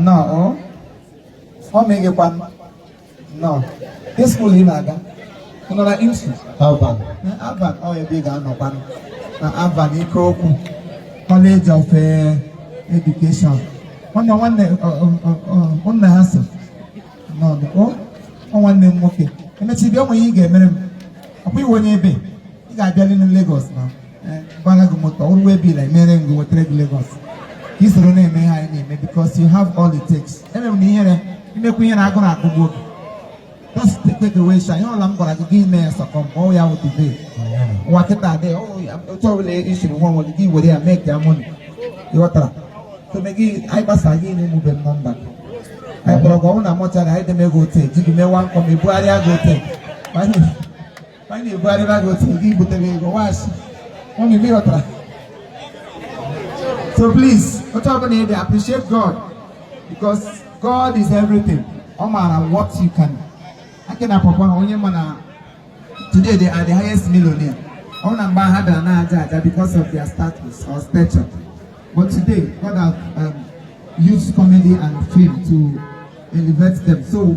nnọọ ọ meghịkwa nnọọ ihe school ị na-aga ị nọ na IMSU Alvan. Alvan ọ ebe ị ga-anọkwa na Alvan Ikoku College of eh, Education nwanne nwanne ọ, ọ, ọ, ọ, ọ, nna ha so n'ọdụ o ọ nwanne m nwoke emechi bịa o nwe ihe ị ga-emere m ọkwa i nwe onye ebe ị ga-abịali na Lagos na eh, gbara gị moto ọ wụ waybill emere gị wetara gị Lagos ka i soro na-eme ihe anyị na-eme because you have all it takes eme m na ihere imekwu ihe na-agụ na agụgụ oge just take away shy ihe ọla m gwara gị gị ime ya sọkọ m ọ ya wụ today ụwa kịta adị otu ọbụla i siri nwa nwere gị were ya make ya money ị ghọtara so me gị anyị gbasa gị na emube m number gị anyị kpọrọ gị ọ wụ na mọchara anyị deme gị ote ji gị mewa nkọ ma ebugharịa gị ote ka anyị na-ebugharịba gị otu gị butere ego wasị ụmụ ibe ghọtara so please otu ọbụla ị dị appreciate God because God is everything no matter what you can Aki na Pawpaw ha onye ma na today they are the highest millionaire ọ na mgbe ha bịara na-aja aja because of their status or stature but today God has um, used comedy and film to elevate them so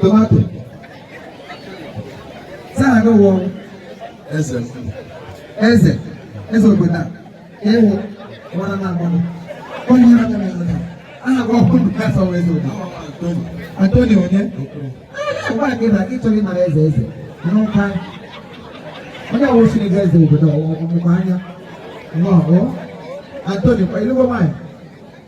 tomato saa gị wụ eze eze eze obodo a ị wụ nwara na agbọnụ onye ha na eze aha gị ọkụ ndụ kasa wee eze obodo Antoni onye ụgbọ gị na gị chọrọ ịnara eze eze n'ụka onye awụ siri gị eze obodo ọmụmụ anya nnọọ Antoni kwa ilugbo nwanyị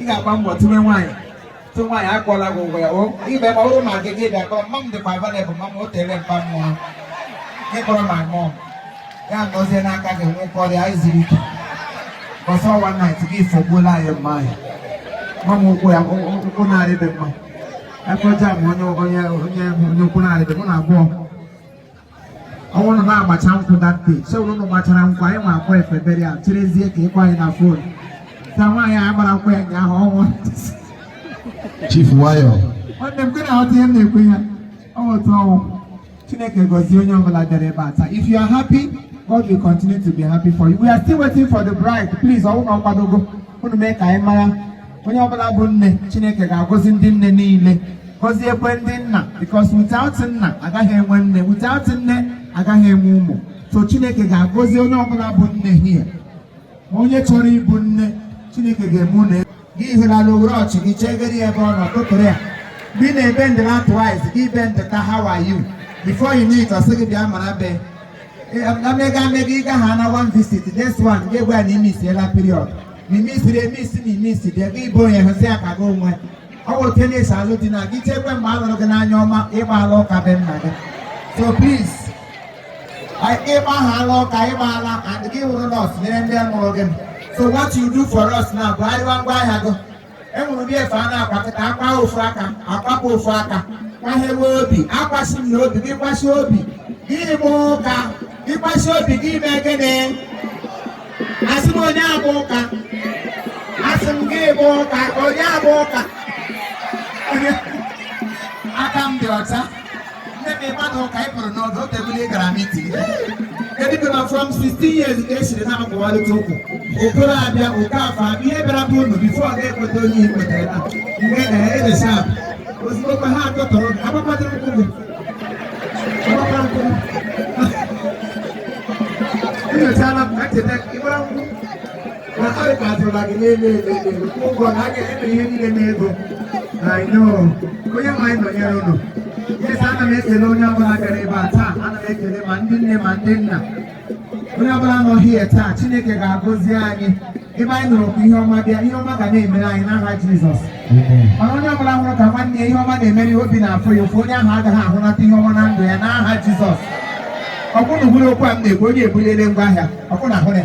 ị ga-agba mbọ tinye nwaanyị tụ nwaanyị akwụọla gị ụgwọ ya o ime ma ọrụ ma gị gị bịa kpọọ m ma m dịkwa available ma m o tere mpa mmụọ gị kpọrọ ma mụọ ya nọzie n'aka gị nwekọ ọrịa anyị ziri ike ọsọ ọ wụ night gị ifogbuola anyị mma anyị ma m ụkwụ ya ụkwụ na-arịbe mma afọ jam onye onye onye onye ụkwụ na-arịbe mụ na abụọ ọ wụrụ na agbacha nkwụ that day so ụnụ gbachara nkwụ anyị ma akwa efe burial cherezie ka ị gwa anyị na phone ka nwaanyị a gbara nkwụ ya ụnyaahụ ọnwụ Chief Wayo nwanne m kwere aghọta ihe m na-ekwu ya ọ wụ otu ọ wụ chineke gọzie onye ọbụla bịara ebe a taa if you are happy God will continue to be happy for you we are still waiting for the bride please ọ wụ na ọ kwadogo unu mee ka anyị mara onye ọbụla bụ nne chineke ga-agọzi ndị nne niile gọziekwe ndị nna because without nna agaghị enwe nne without nne agaghị enwe ụmụ so chineke ga-agọzi onye ọbụla bụ nne hie onye chọrọ ịbụ nne chineke ga-eme nne gị hụlala owere ọchị gị chegere ya ebe ọ nọ tụtụrụ ya mgbe ị na-ebend down twice gị bend ka how are you before you know it ọ sị gị bịa mara be amega amega ịga ha na one visit next one gị gwa na imisiela period na imisiri emisi na imisi dị ego ibo onye hụsị ya ka gị onwe ọ bụ otu na-esi alụ di na gị chekwe mgbe a lụrụ gị n'anya ọma ị gbaala ụka be nna gị so please ị gbahaala ụka ị gbaala and gị wụrụ nọọsụ nyere ndị mụrụ gị so what you do for us now bụ arịwa ngwa ahịa gị enwere ụdị efe a na-akwakọta akwa ofu aka akwapụ ofu aka kwahewe obi akwasị m na obi gị kwasị obi gị bịa ụka gị kwasị obi gị ime gịnị asị m onye abụ ụka asị m gị bịa ụka onye abụ ụka aka m dị ọcha Nne m ịmadụ ka ị pụrụ n'ọdụ tebụl gara meeting. Kedu ma from 16 years ka e siri na-akwụwarịta ụkwụ. Okoro abịa Okafọ abịa ihe bịara bụ unu before ọ ga-ekweta onye ihe kwetara na nke na edesa abụ. Ozugbo kwa ha atọ tọrọ gị, agbakwadoro ụkwụ gị. Agbakwa ụkwụ gị. Enyochala m ka ncheta ị gbara nkwụ. na anyị ga-adịla gị n'elu elu elu ụgwọ na a ga-eme ihe niile n'ego I know onye nwe anyị nọnyere unu yes ana m ekele onye ọbụla bịara ebe a taa ana m ekele ma ndị nne ma ndị nna onye ọbụla nọ here taa Chineke ga-agọzi anyị ebe anyị nụrụ ka ihe ọma bịa ihe ọma ga na-emere anyị n'aha Jizọs mana onye ọbụla hụrụ ka nwanne ya ihe ọma na-emere ya obi na-afụ ya ụfụ onye ahụ agaghị ahụnata ihe ọma na ndụ ya n'aha Jizọs ọ kwa unu nụrụ okwu a m na-ekwu onye ebuliele ngwa ahịa ọ kwa unu nụrụ ya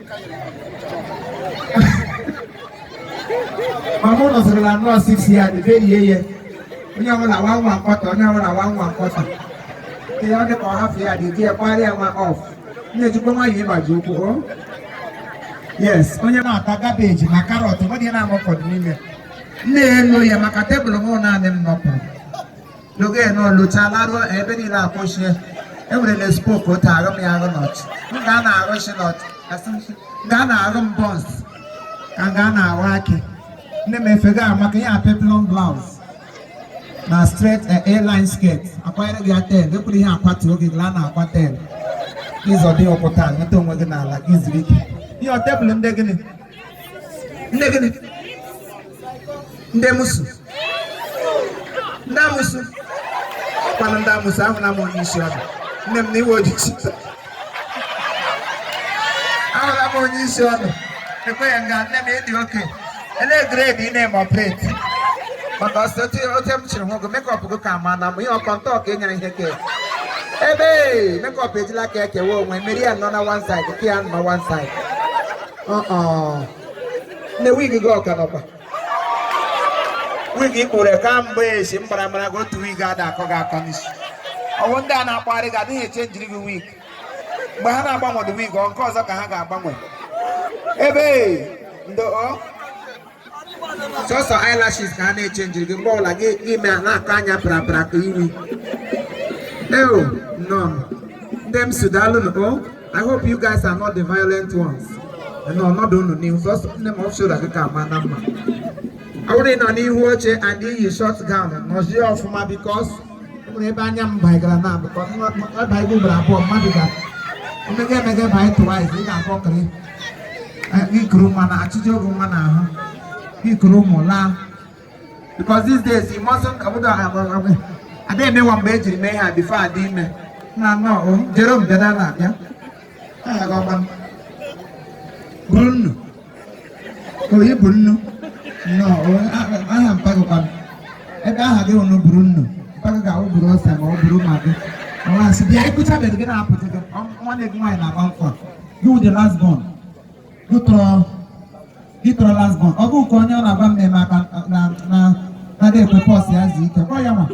ma mụ nọsịrị na nọọsụ isi ya dịberie ya onye ọbụla nwa nwa mkpọta onye ọbụla nwa nwa mkpọta ihe ọ dị ka ọ hafụ ya dị di ya kparịa nwa ọf nne jikwa nwayọ ịgbaji ụkwụ o yes onye na-ata cabbage na carrot ọ dị na-amụ ụfọdụ n'ime na-elo ya maka tebụl m naanị m nọpụrụ n'oge ya na ọlụcha laruo ebe niile akwụchie enwere na spoku otu arụ m ya arụ nọt m ga na-arụ shi nọt asị m shi m ga na-arụ m bọns ka m ga na-arụ akị nne m efega maka ihe a peplum blouse na straight A-line skirt akwanyere gị ya ten ekwuru ihe akwatuo gị la na akwa ten ịzọ dị ọkwụta nweta onwe gị n'ala gị zuru ike ihe ọ tebụl ndị gịnị ndị gịnị ndị musu ndị amusu ọkwanụ ndị amusu ahụla m onye isi ọdụ nne m na iwe ojiji ahụla m onye isi ọdụ ekweghị nga nne m ịdị oke elee grade ị na-eme operate maka ọsọ ote m chịrị nwogo makeup gị ka ma na m ihe ọkọ ntọ ka ịnyere ihe ka ebe makeup ejila ka ekewa onwe mmeri ya nọ na one side nke ya nọ one side nne wig gị ọ ka nọkwa wig i kpuru ka mgbe esi mbara mara gị otu wig ada akọ gị akọ n'isi ọ wụ ndị a na-akpagharị gị adịghị echenjiri gị wig mgbe ha na-agbanwe wig ọ nke ọzọ ka ha ga-agbanwe ebe ndị ọ sọsọ eyelashes ka a na-echenjiri gị mgbe ọbụla gị emee na-akọ anya prapra ka iwi eo nọ ndị m si daalụ nụ o I hope you guys are not the violent ones nọ ọnọdụ unu n'ihu sọsọ nne m ọfshora gị ka ama na mma ọ bụrụ na ị nọ n'ihu oche and i yi short gown nọzie ọfụma because nwere ebe anya m bagara na abụkọ ebe anyị gbubara abụọ mmadụ ga emega emega ebe anyị tụwa izi ị ga-akpọ kiri ikuru nwa na achịcha oge nwa na ahụ ikuru ụmụ laa because these days you mustn't obodo adịghị emewa mgbe ejiri mee ha before adị ime na nọ jere m bịa na abịa oyi bụ nnu aha mpa gị kwanụ ebe aha gị wụnụ buru nnu mpa gị ga-awụ buru ose ma ọ buru maggi ọwa asị bịa ịkụchabeghị gị na-apụta gị nwanne gị nwaanyị na-agba mkpọ gị wụ the last born ị tọrọ last born ọ bụ nke onye ọ na-agba mme maka na na adị ekwe pọs ya zi ike kpọ ya nwa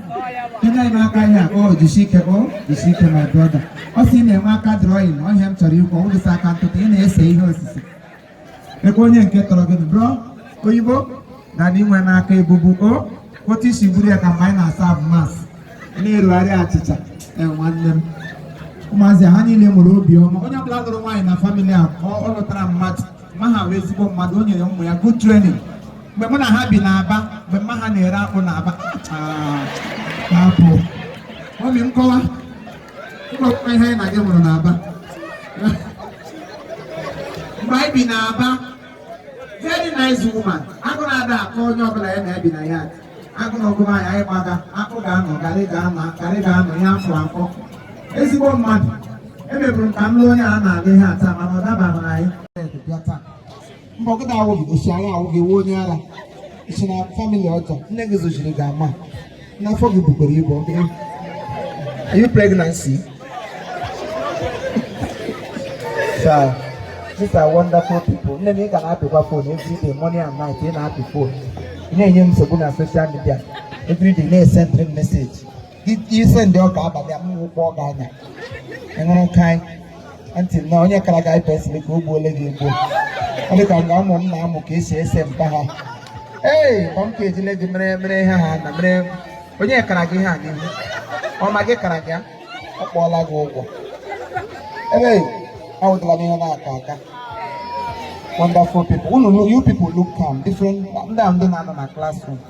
kenye anyị n'aka ihe a o jisi ike o jisi ike my brother ọ sị ị na-enwe aka drawing ọ ihe a m chọrọ ikwu ọ bụdịsa aka ntụtụ ị na-ese ihe osise kee onye nke tọrọ gị bro oyibo dada i nwe n'aka ebubu o otu i si buru ya ka mgbe anyị na-asa abụ masị na-erugharị achịcha ee nwanne m ụmụazị ha niile nwere obiọma onye ọbụla lụrụ nwaanyị na family a ọ ọ lụtara mmadụ mma ha wụ ezigbo mmadụ o nyere ụmụ ya good training mgbe mụ na ha bi n'aba mgbe mma ha na-ere akpụ n'aba ah, akpụ obi nkọwa mkpọkwa ihe anyị na gị hụrụ n'aba mgbe anyị bi n'aba very nice woman agụụ na-ada akọ onye ọbụla ya na-ebi na ya agụụ na ọ gụma ya anyị gbaga akpụ ga-anọ garị ga-anọ ihe afọ afọ ezigbo mmadụ emeburu ka m lụọ onye a na-alụ ihe ata mana ọ dabaghị na anyị mbọgịda awụ gị osi anyị awụ gị wuo onye ara si na family ọjọọ nne gị zochiri gị ama n'afọ gị bukwara ibu Are you pregnancy? Sir, these are wonderful people. Nne m ị ga na-apịkwa phone every day morning and night ị na-apị phone. Ị na-enye m nsogbu na social media every day na-esendiri m message. I sendị ọka abalị a m rụkpọọ gị anya. Ị ṅụrụ nkaị. aunty na onye kara gị eye pencil ka o gbuole gị egbuo ọ dị ka nga ụmụ m na-amụ ka esi ese mpa ha ee ọ m ka ejile gị mere mere ihe ha na mere onye kara gị ihe a n'ihu ọ ma gị kara gị ya ọ kpọọla gị ụgwọ ebe awụtala m ihe na-aka aka wonderful people unu you people look calm different ndị a ndị na-anọ na classroom